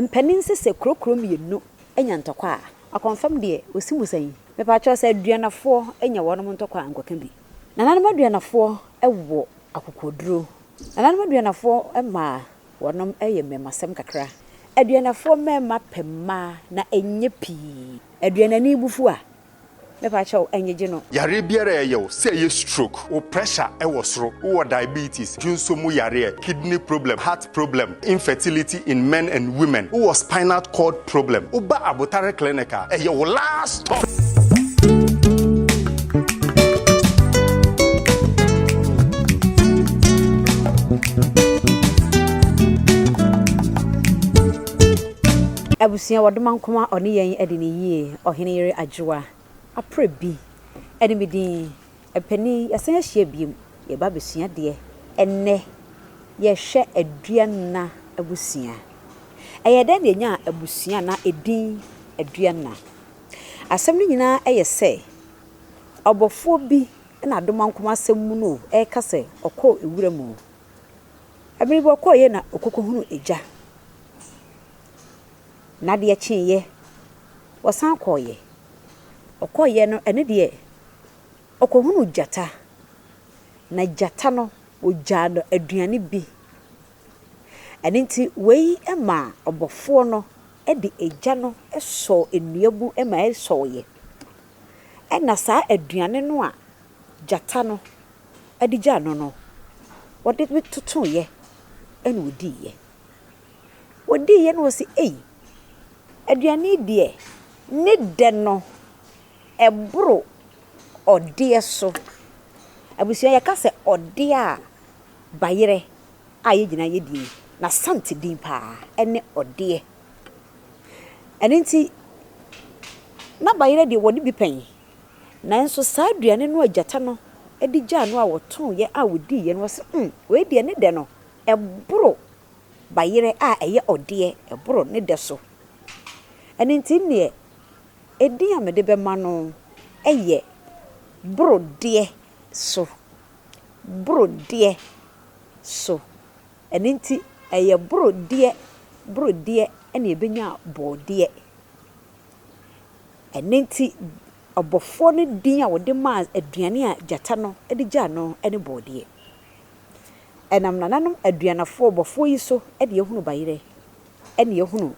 Mpanin se sɛ kuro kuro mmienu nya ntɔkwa a, akɔmfam deɛ ɔsi mu sɛn? Mepakyɛw sɛ aduanafoɔ nya wɔnom ntɔkwa a nkɔka bi. Nananom aduanafoɔ wɔ akokoɔduro. Nananom aduanafoɔ mmaa wɔnom yɛ mmɛmasɛm kakra. Aduanafoɔ mmarima pɛ mmaa na ɛnyɛ pii. Aduanani bo fu a, Mepa kyɛw ngyegye no. Yareɛ biara a ɛyɛ wo, sɛ ɛyɛ stroke, wo pressure ɛwɔ soro, wowɔ diabetes, dwonso mu yareɛ, kidney problem, heart problem, infertility in men and women, wowɔ spinal cord problem, woba abotare clinic a, ɛyɛ wo last stop. Abusua, Wɔdoma Nkomaa ɔne yɛn adi no yie. Ɔhene yere Adwoa, aprɛ bi, ɛne me din. Mpanin, yɛasan ahyia biom, yɛreba abɛsua adeɛ. Ɛnnɛ, yɛrehwɛ Aduanna abusua. Ɛyɛɛ dɛn na yɛnyaa abusua a na ɛdin Aduanna? Asɛm no nyinaa yɛ sɛ, ɔbɔfoɔ bi na Adomankoma asɛm mu no reka sɛ ɔkɔɔ nwura mu. Ɛberɛ bi ɔkɔeɛ na ɔkɔkɔhunuu egya. Na deɛ kyeeɛ, ɔsan kɔeɛ. Ɔkɔeɛ no, ɛno deɛ, ɔkɔhunuu gyata, na gyata no, ɔgyaa no aduane bi. Ɛno nti, wei maa ɔbɔfoɔ no de egya no sɔɔ nnua mu ma ɛsɔeɛ. Ɛnna saa aduane no a gyata no de gyaa no no, ɔde no totoeɛ na ɔdiiɛ. Wɔdiiɛ na wɔse, Ei! Aduane yi deɛ ne dɛ no, ɛboro ɔdeɛ so. Abusua, yɛka sɛ ɔdeɛ a, bayerɛ a yɛn nyinaa yɛdi yi, n'Asante din pa ara ne ɔdeɛ. Ɛno nti, na bayerɛ deɛ wɔde bi pɛn. Nanso saa aduane no a gyata no de gyaa no a wɔtooeɛ a wɔdiiɛ no, wɔse, Um! Wei deɛ ne dɛ no, ɛboro bayerɛ a ɛyɛ ɔdeɛ, ɛboro ne dɛ so. Ɛno nti nneɛ edin a mede bɛma no yɛ Borodeɛ so, Borodeɛ so. Ɛno nti ɛyɛ borodeɛ, borodeɛ na ɛbɛnya bɔɔdeɛ. Ɛno nti ɔbɔfoɔ no din a ɔde maa aduane a gyata no de gyaa no ne bɔɔdeɛ. Ɛnam nananom aduanafoɔ bɔfoɔ yi so na yɛhunu bayerɛ, ɛna yɛhunu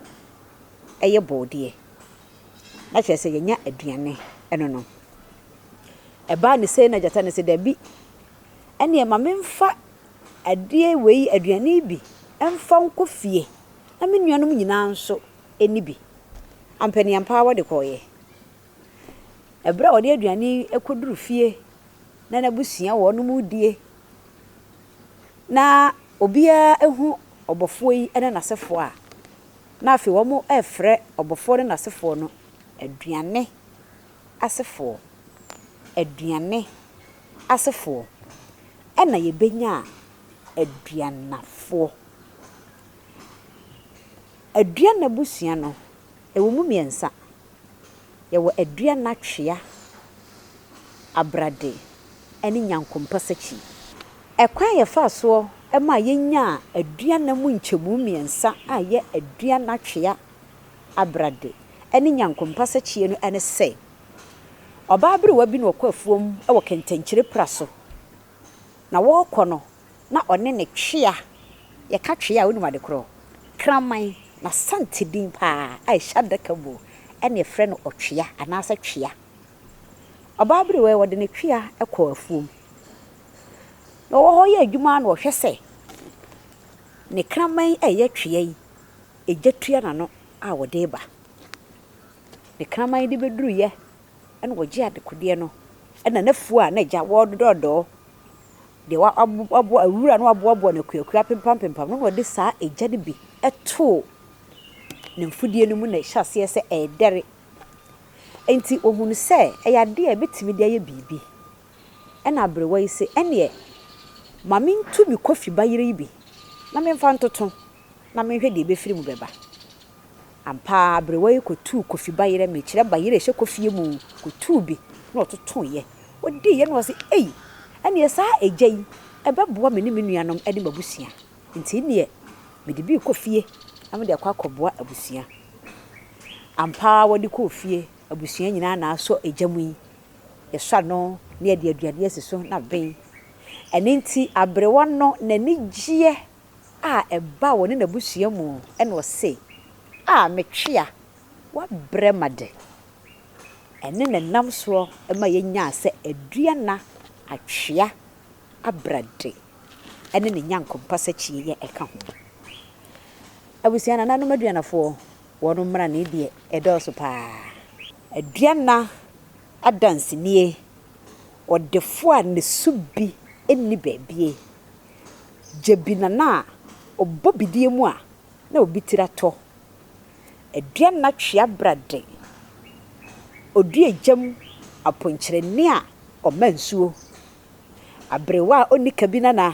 ɛyɛ bɔɔdeɛ, na kyerɛ sɛ yɛnya aduane ɛno no. Ɛbaa ne sei na gyata no sɛ dabi, ɛneɛ ma memfa adeɛ wei aduane yi bi mfa nkɔ fie na me nuanom nyinaa nso ɛni bi. Ampaneampaa wɔde kɔeɛ. Ɛberɛ a ɔde aduane yi kɔduru fie na n'abusua wɔnom redie na obiara hu ɔbɔfoɔ yi ne n'asefoɔ a, na afei wɔrefrɛ ɔbɔfoɔ ne n'asefoɔ no aduane asefoɔ, aduane asefoɔ. Ɛna yɛbɛnya aduanafoɔ. Aduana abusua no, Ɛwɔ mu mmiɛnsa. Yɛwɔ Aduana Twea Abrade ne Nyankompɔ Sakyi. Ɛkwan a yɛfaa soɔ maa yɛnyaa Aduana mu nkyɛmu mmiɛnsa a ɛyɛ Aduana Twea Abrade ne Nyankompɔ Sakyie no ne sɛ, ɔbaa aberewa bi na ɔkɔ afuom wɔ kɛntɛnkyire pra so. Na wɔrekɔ no, na ɔne ne twea, yɛka twea a wonim ade korɔ, kraman, n'Asante din paa a ɛhyɛ adaka mu ɛna yɛfrɛ no ɔtwea anaasɛ twea. Ɔbaa berewaa yi wɔde ne twea kɔɔ afuom na ɔwɔ hɔ yɛ adwuma na ɔhwɛ sɛ ne kraman yi a ɛyɛ twea yi ɛgya tua n'ano a ɔde reba. Ne kraman yi de bɛduruyɛ na wɔgyee adekodeɛ no na n'afuo a na agya wɔredɔɔdɔɔ deɛ waboa awura no aboaboa no akuakua apempampempam no na ɔde saa egya no bi too ne mfudeɛ no mu na ɛhyɛ aseɛ sɛ ɛredɛre. Enti ɔhunu sɛ ɛyɛ adeɛ a ɛbɛtumi de ayɛ biribi. Ɛna aberewa yi se, ɛnneɛ ma mentu me kɔfiba yere yi bi na memfa ntoto na menhwɛ deɛ ɛbɛfiri mu bɛba. Ampa ara aberewa yi kɔtuu Kofi bayerɛ, mekyerɛ bayerɛ a ɛhyɛ kofie mu, kɔtuu bi na ɔtotoeɛ. Ɔdiiɛ na ɔse, Ei! Ɛnneɛ saa egya yi, ɛbɛboa me ne me nuanom ne m'abusua. Nti nneɛ, mede bi rekɔ fie na mede akɔ akɔboa abusua. Ampa ara wɔde kɔɔ fie, abusua nyinaa na asɔ egya mu yi. Yɛsɔ ano na yɛde aduane asi so na ben. Ɛno nti aberewa no n'ani gyeɛ. a ɛbaa wɔne n'abusua mu na ɔse, A me twea, woabrɛ ma de! Ɛne na ɛnam soɔ ma yɛnyaa sɛ Aduana atwea abrade ne ne nyankompa sakyieyɛ ɛka ho. Abusua nananom Aduanafoɔ, wɔn mmrane deɛ ɛdɔɔso pa ara. Aduana adanse nie, ɔdefoɔ a ne su bi nni baabie. Gyabinana a ɔbɔ bidie mu a na obi tiri atɔ. Aduanna twea bra de, ɔdua egya mu aponkyerɛni a ɔma nsuo. Aberewa a ɔnni kabinana,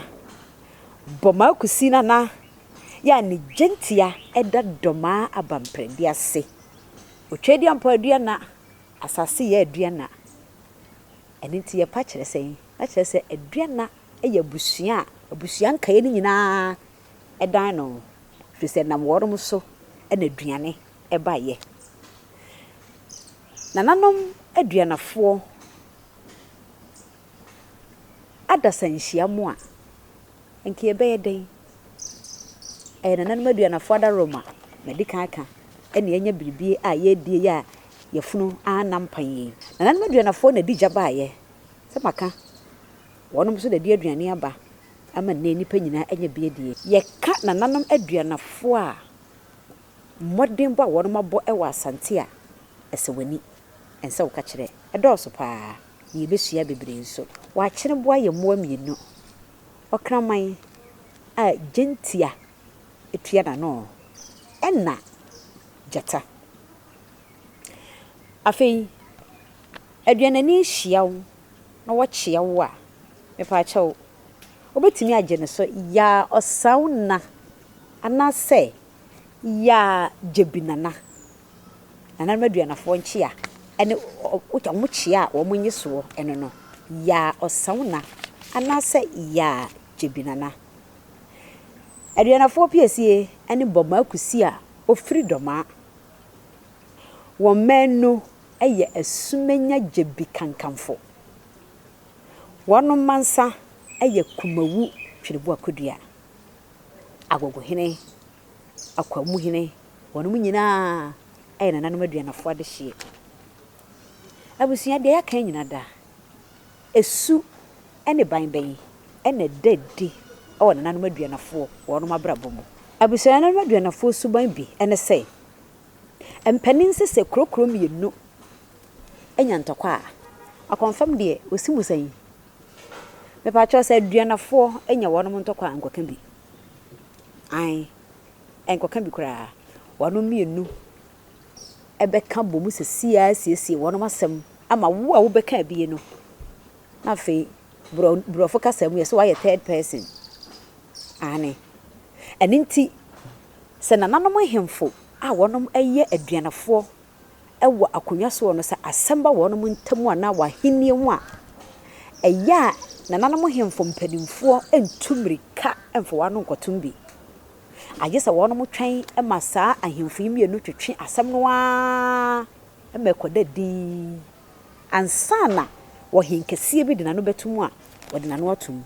Bɔmaa Kusinana yɛ a ne gyentia da Dɔmaa Abamprɛde ase. Otweaduampɔ aduanna, Asase yɛ aduanna. Ɛno nti yɛpa kyerɛ sɛn? Na kyerɛ sɛ aduanna yɛ abusua a abusua nkaeɛ no nyinaa dan no ho, ɛfiri sɛ ɛnam wɔnom so na aduane baeɛ. Nananom aduanafoɔ adasa nhyia mo a, nka yɛbɛyɛ dɛn? Ɛyɛ nananom aduanafoɔ adaworoma, madi kan aka, na yɛanya biribi a yɛredi a yafunu ara nna mpan yi. Nananom aduanafoɔ na ɛdi gya baeɛ, sɛ maka, Wɔnom nso na ɛde aduane aba ama nnɛ nnipa nyinaa anya bi adie. Yɛka nananom aduanafoɔ a, mmɔdenbɔ a wɔnom abɔ wɔ Asante a, ɛsɛ w'ani. Ɛnsɛ woka kyerɛ. Ɛdɔɔso paa, na yɛbɛsua bebree nso. Wɔ Akyeneboa yɛ mmoa mmienu, Ɔkraman a gyentia tua n'ano ɛna gyata. Afei, aduanani hyia wo na wɔkyea wo a, mepaakyɛw, wobɛtumi agye no so yaa Ɔsawna anaasɛ yaa Gyabinana. Nananom Aduanafoɔ nkyea ne wɔn kyea a wɔn nye soɔ no no, yaa Ɔsawna anaasɛ yaa Gyabinana. Aduanafoɔ piesie ne Bɔmaa Kusi a ɔfiri Dɔmaa. Wɔn mmaanu. yɛ asumanya gyabi kankamfo. Wɔnom mansa yɛ kumawu twerɛboɔ kɔdua. Agogohene, Akwamuhene, wɔnom nyinaa yɛ nananom aduanafoɔ adehyeɛ. Abusua, deɛ yɛaka yi nyina da, su ne ban bɛn na ɛda adi wɔ nananom aduanafoɔ wɔnom abrabɔ mu? Abusua, nananom aduanafoɔ suban bi ne sɛ. Mpanin se sɛ kuro kuro mmienu anya ntɔkwa a, akɔmfam deɛ ɔsi mu sɛn? Mepakyɛw sɛ Aduanafoɔ anya wɔnom ntɔkwa a nkɔka bi. Ae, nkɔka bi koraa. Wɔnom mmienu bɛka bom sesie ara asiesie wɔnom asɛm ama wo a wobɛka abie no. Na afei borɔ borɔfo kasa mu yɛse woayɛ third person. Aane. Ɛno nti Sɛ nananom nhemfo a wɔnom yɛ aduanafoɔ wɔ akonnwa soɔ no sɛ asɛm ba wɔnom ntam anaa wɔ ahennie ho a, ɛyɛ a nananom nhemfo mpanimfoɔ ntu mmirika mfa wɔn ano nkɔtom bi. Agye sɛ wɔnom twɛn ma saa ahemfo yi mmienu twetwe asɛm no ara ma ɛkɔda dinn ansa na ɔhenkɛseɛ bi de n'ano bɛtom a wɔde n'ano atom.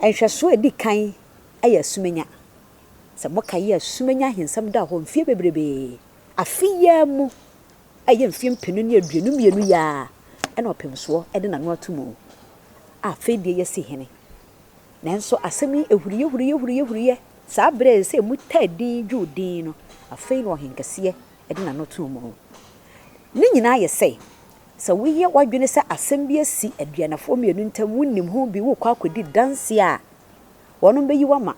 Nhwɛsoɔ a ɛdi kan. yɛ asumenya. Sɛ mokae a, asumenya ahensɛm daa hɔ mfeɛ bebrebe. Afe yi ara mu, a ɛyɛ mfeɛ mpenu ne aduonu mmienu yi ara na ɔpemsoɔ de n'ano ato mu, a afei deɛ yɛasi hene. Nanso asɛm yi huriiɛ huriiɛ huriiɛ huriiɛ saa berɛ a ɛsɛ sɛ ɛmu taa dinn dwo dinn no, afei na ɔhenkɛseɛ de n'ano too mu. Ne nyinaa yɛ sɛ, sɛ woyɛ w'adwene sɛ asɛm bi asi aduanafoɔ mmienu ntam, wonim ho bi, worekɔ akɔdi danseɛ a, wɔnom bɛyi wo ama.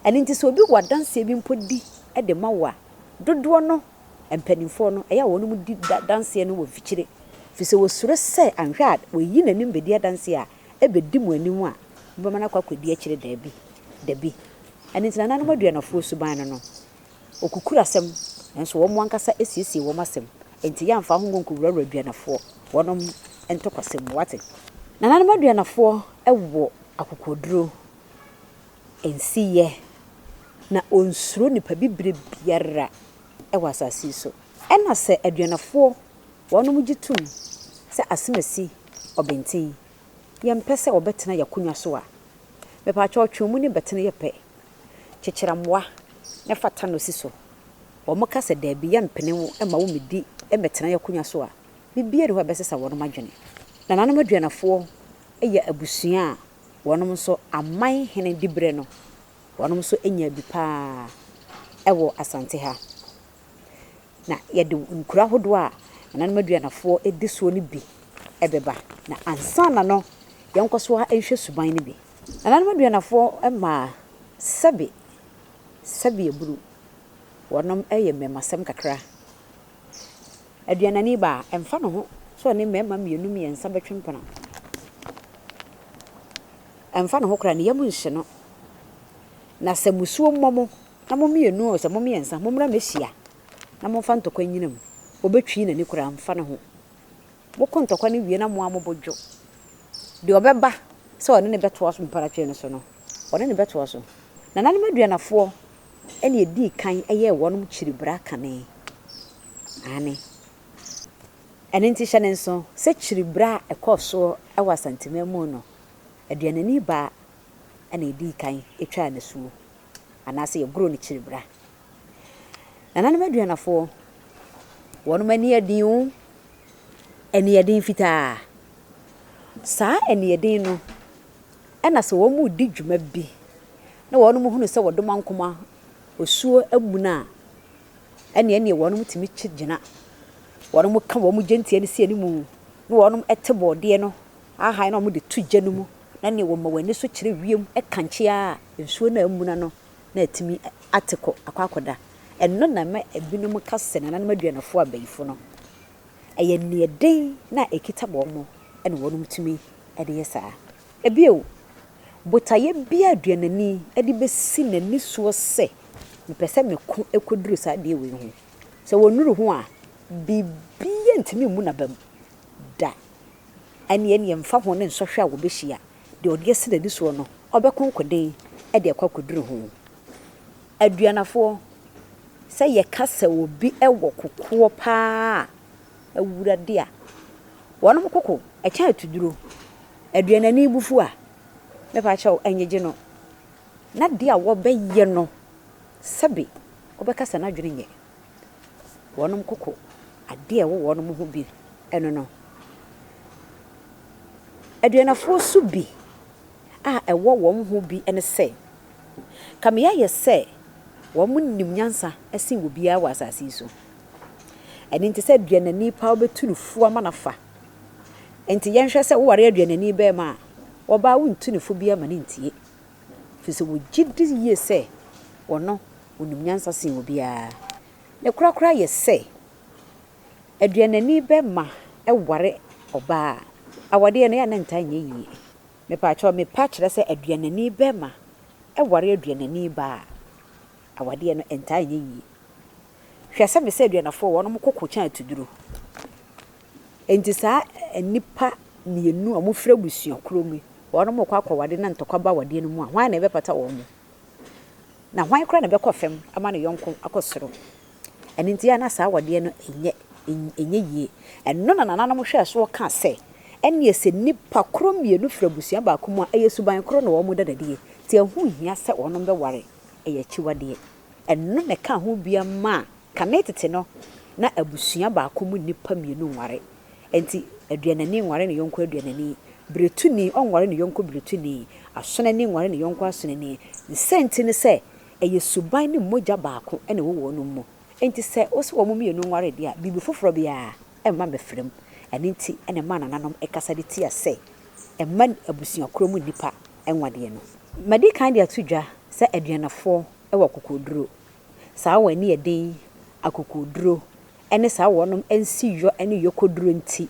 Ɛno nti sɛ obi wɔ adanseɛ bi mpo di de ma wo a, dodoɔ no mpaninfoɔ no ɛyɛ a wɔnom di adanseɛ no wɔ mfikyire firi sɛ wɔsuro sɛ anhwɛ a wayi n'anim bɛdi adanseɛ a ɛbɛdi mo anim a mobɛma no akɔ akɔdi akyire daabi dabi. Ɛno nti nananom aduanafoɔ suban no no Wɔkukuru asɛm, nanso wɔn ankasa siesie wɔn asɛm, enti yɛamfa ho ngo nkuwurawura aduanafoɔ wɔnom ntɔkwasɛm mu, wate. Nananom aduanafoɔ wɔ akokoɔduro, nsiyɛ, na wɔnsuro nipa bibire biara wɔ asase yi so. Ɛna sɛ aduanafoɔ wɔnom gye tom sɛ asem asi ɔbenten, yɛmpɛ sɛ wɔbɛtena yɛn akonwa so a, mepakyɛw twe wɔn ani bɛtene yɛ pɛ, kyekyere mmoa na fa ta no si so. Wɔka sɛ dabi, yɛmpene wo mma wommedi mmɛtenae akonnwa so a, biribiara nni hɔ a ɛbɛsesa wɔn adwene. Nananom Aduanafoɔ yɛ abusua a wɔnom nso aman hene diberɛ no wɔnom nso nyaa bi pa ara wɔ Asante ha. Na yɛde nkuro ahodoɔ a Nananom Aduanafoɔ di soɔ no bi bɛba. Na ansa na no, yɛnkɔ so ara nhwɛ suban no bi. Nananom aduanafoɔ maa sɛbe sɛbe abunu wɔnom yɛ mmɛmasɛm kakra. Aduanani baa ɛmfa ne ho sɛ ɔne mmarima mmienu mmiɛnsa bɛtwe mpena. Ɛmfa ne ho koraa ne yam nhye no. Na sɛ musuo mmɔ mo na mo mmienu oo sɛ mo mmiɛnsa mommra mmɛhyia na momfa ntɔkwa nnyina mu. Ɔbɛtwii n'ani koraa mfa ne ho. Mokɔ ntɔkwa no wie na mo ara mo bo dwo. Deɛ ɔbɛba sɛ ɔne no bɛtoa so mpɔnatwere no so no, ɔne no bɛtoa so. Nananom aduanafoɔ na ɛdii kan yɛɛ wɔnom kyiribra kane. Aane. Ɛno nti hyɛ no nso sɛ kyiribra a ɛkɔɔ soɔ wɔ Asanteman mu no, aduanani baa na ɛdii kan twaa nasuo, anaasɛ yɛgoroo no kyiribra. Nananom aduanafoɔ, wɔnom ani yɛ den o, ani yɛ den fitaa. Saa ani yɛ den no, ɛna sɛ wɔn redi dwuma bi, na wɔnom hunu sɛ wɔde wɔn ankoma osuo amuna a, ɛne ɛneɛ wɔnom tumi kye gyina. Wɔnom ka wɔn gyentia no si animu, na wɔnom te bɔɔdeɛ no ahan na wɔde to gya no mu, na ɛneɛ wɔma wɔn ani so kyerɛ wiem, ɛkankye ara a nsuo no a amuna no na atumi ate kɔ akɔ akɔda. Ɛno na ɛma ebinom ka sɛ nananom aduanafo abayifo no, ɛyɛ nea ɛden na ɛkita wɔn na wɔtumi de yɛ saa. Bio, botaeɛ biara a aduanani de bɛsi n'ani soɔ sɛ, Mepɛ sɛ meko kɔduru saa adeɛ wei ho, sɛ ɔnnuru ho a, biribiara ntumi mmu n'aba mu da. Ɛnneɛ, ɛmfa ho ne nsɔhwɛ a wɔbɛhyia, deɛ ɔde asi n'ani soɔ no, ɔbɛko nkoden de akɔ akɔduru ho. Aduanafoɔ, sɛ yɛka sɛ obi wɔ kokoɔ pa ara a, Awurade a, wɔnom koko kyɛn atuduro. Aduanani bo fu a, me pa kyɛw, nnyegye no. N'adeɛ a wɔbɛyɛ no, sɛbe wobɛka sɛ n'adwene nyɛ. wɔnom koko adeɛ ɛwɔ wɔnom ho bi ɛno no. Aduanafoɔ so bi a ɛwɔ wɔn ho bi ɛne sɛ, kame yɛayɛ sɛ wɔnom nim nyansa ɛsen obiara wɔ asase yi so. Ɛno nti sɛ aduanani paa wobɛtu no fo ama no afa. Nti yɛnhwɛ sɛ woware aduanani bɛɛma a, ɔbaa wontu no fo biara ma no ntie. Ɛfiri sɛ wɔgye di yie sɛ ɔno ɔnim nyansa sen obiara. Ne korakora yɛ sɛ, aduanani bɛma ware ɔbaa a, awadeɛ no, ɛyɛ a na ɛntaa nyɛ yie. Mepakyɛw, me pa kyerɛ sɛ aduanani bɛma ware aduanani baa a, awadeɛ no, ɛntaa nyɛ yie. Hwɛ sɛ me sɛ aduanafoɔ wɔnom ko kokyɛn atuduro. Enti saa nnipa mmienu a wɔfiri abusua korɔ mu yi, wɔn rekɔ akɔwadeɛ na ntɔkwa ba awadeɛ no mu a, hwan na ɛbɛpata wɔn? Na hwan koraa na ɛbɛkɔ fam ama ne yɔnko akɔ soro? Ɛno nti a na saa awadeɛ no nyɛ, ɛnyɛ yie. Ɛno na nananom hwɛɛ soɔ kaa sɛ, Ɛnneɛ sɛ nnipa korɔ mmienu firi abusua baako mu a, ɛyɛ suban korɔ na wɔn da no adie, nti ɛho nhia sɛ wɔn bɛware, ɛyɛ akyiwadeɛ. Ɛno na ɛkaa ho bia maa Kane tete no, na abusua baako mu nnipa mmienu nware. Enti aduanani nware ne yɔnko aduanani, biretuni nware ne yɔnko biretuni, asonani nware ne yɔnko asonani. Ne saa nti ne sɛ, ɛyɛ suban ne mogya baako na ɛwɔ wɔnom mu. Enti sɛ wose wɔn mmienu nware deɛ a, biribi foforɔ biara mma mmɛfra mu. Ɛno nti na ɛmaa nananom kasa de tia sɛ mma abusua korɔ mu nnipa nwadeɛ no. Madi kan de ato dwa sɛ aduanafoɔ wɔ akokoɔduro saa wɔn ani yɛ den yi, akokoɔduro ne saa wɔn nsiyɔ ne yɔkɔduro nti,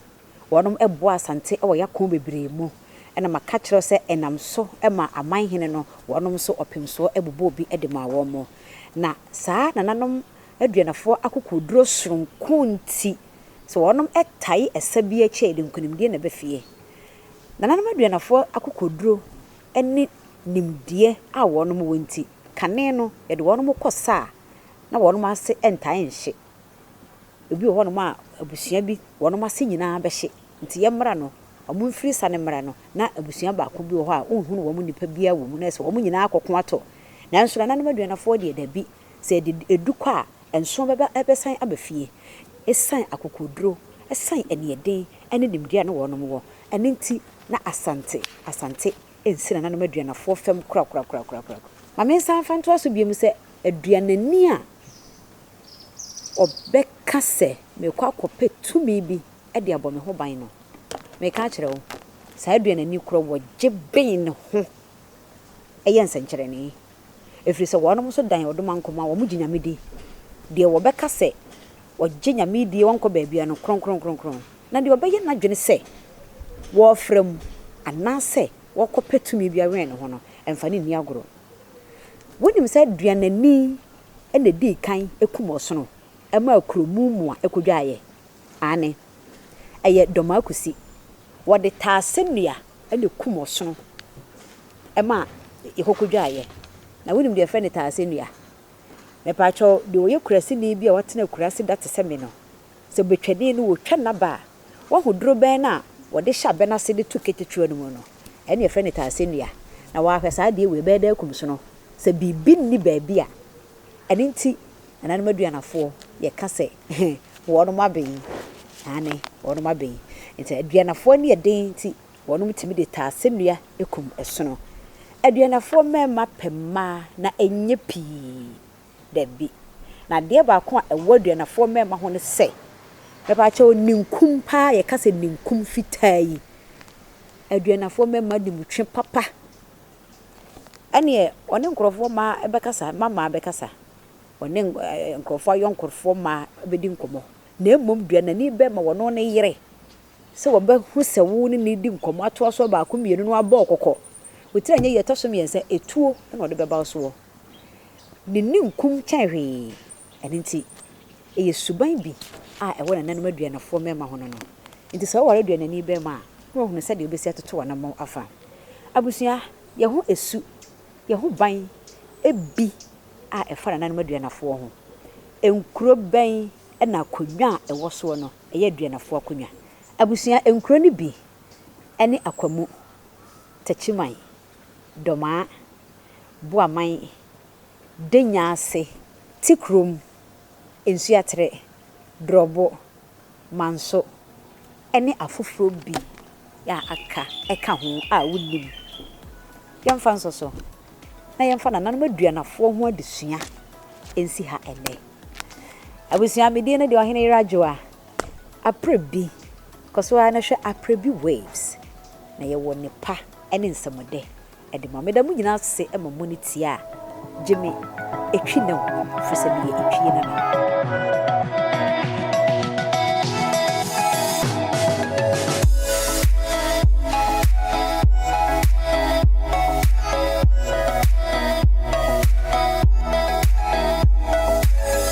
wɔn bɔ asante wɔ y'akɔn bebree mu, ɛna maka kyerɛ wo sɛ ɛnam so maa aman hene no wɔn nso ɔpemsoɔ bobɔɔ bi de maa wɔn, na saa nananom aduanafoɔ akokoɔduro sononko nti, sɛ wɔn tae ɛsa bi akyi a yɛde nkonimdie na ɛba fie. Nananom aduanafoɔ akokoɔduro ne nimdeɛ a wɔn wɔ nti. Kane no, yɛde wɔnom kɔ sa a na wɔnom ase ntae nhye. Ebi wɔ hɔnom a abusua bi wɔnom ase nyinaa bɛhye, nti yɛ mmra no, wɔn mfiri sa no mmra no, na abusua baako bi wɔ hɔ a wonhunu wɔn nnipa biara wɔ mu, na ɛsɛ wɔnom nyinaa kɔ ko ato. Nanso nananom aduanafoɔ deɛ dabi, sɛ ɛde ɛdu kɔ a, nsoɔ bɛba ɛbɛsan aba fie. Ɛsiane akokoɔduro, ɛsiane aniɛden ne nimdeɛ a na wɔnom wɔ, ɛno nti na Asante, Asante nsi nananom aduanafoɔ fam korakorakorakorakora. Ma mensan mfa ntoa so bio mu sɛ, aduanani a ɔbɛka sɛ merekɔ akɔpɛ tumi bi de abɔ me ho ban no, mereka akyerɛ wo, saa aduanani korɔ wɔgye ben ne ho yɛ nsɛnkyerɛnee. Ɛfiri sɛ wɔnom nso dan ɔdomankoma a wɔgye Nyame di. Deɛ wɔbɛka sɛ ɔgye Nyame die ɔnkɔ baabiara no, kronkronkronkron. Na deɛ ɔbɛyɛ n'adwene sɛ ɔrefra mu anaasɛ ɔrekɔpɛ tumi bi awɛn ne ho no, mfa no nni agorɔ. Wonim sɛ aduanani na ɛdii kan kumm ɔsono maa kuro mu mmoa kɔdwaaeɛ? Aane. Ɛyɛ Dɔmaakusi. Wɔde taase nnua na ɛkumm ɔsono maa ɛhɔ kɔdwaaeɛ. Na wonim deɛ yɛfrɛ no taase nnua? Mepaakyɛw, deɛ ɔyɛ kuraseni bi a watena akurase da te sɛ me no, Sɛ betwani no otwa n'aba a, wahu dorobɛn no a wɔde hyɛ abɛ no ase de to katakyiwa no mu no, ɛnne yɛfrɛ no taasennua, na wahwɛ saa adeɛ wei, ɛbɛyɛ dɛ akum sono. Sɛ biribi nni baabi a, ɛno nti nananom aduanafoɔ yɛka sɛ wɔnom aben, aane, wɔnom aben. Nti aduanafoɔ ani yɛ den nti wɔnom tumi de taasennua kum sono. Aduanafoɔ mmarima pɛ mmaa na ɛnyɛ pii. Dabi. Na adeɛ baako a ɛwɔ Aduanafoɔ mmarima ho ne sɛ, mepaakyɛw ninkum paa, yɛka sɛ ninkum fitaa yi, Aduanafoɔ mmarima de mu twe papa. Ɛneɛ ɔne nkorɔfoɔ mmaa bɛkasa, mma mmaa bɛkasa, ɔne nkorɔfoɔ ayɔnkofoɔ mmaa bɛdi nkɔmmɔ. Na mmom deɛ n'ani bɛma ɔno ne yere, sɛ ɔbɛhu sɛ wo ne no redi nkɔmmɔ atoa soɔ baako mmienu na wabɔ wo kɔkɔ, wo tiri anyɛ yie, ɛtɔ so mmiɛnsa, etuo na ɔde bɛba wo soɔ. Ne ninkum kyɛn hwee. Ɛno nti, ɛyɛ suban bi a ɛwɔ nananom aduanafoɔ mmarima ho no no. Nti sɛ woware aduanani barima a, na wahunu sɛdeɛ wobɛsi atoto w'anammɔn afa. Abusua, yɛn ho su, yɛn ho ban bi a ɛfa nananom aduanafoɔ ho. Nkuro bɛn na akonnwa a ɛwɔ soɔ no yɛ aduanafoɔ akonnwa? Abusua, nkuro no bi ne Akwamu, Takyiman, Domaa, Buaman, Dennya ase, Tikurom, Nsuaterɛ, Dorɔbo, Manso ne afoforɔ bi a aka ka ho a wonnim. Yɛmfa nso so na yɛmfa nananom aduanafoɔ ho adesua nsi ha ɛnnɛ. Abusua, me din ne deɛ Ɔhene Yera Joah. Aprɛbi, kɔ so ara na hwɛ Aprɛbi Waves na yɛwɔ nnepa ne nsɛmɔdɛ de ma. Meda mo nyinaa ase ma mo ani tia a gye me etwi na hu firi sɛ meyɛ etwie nana.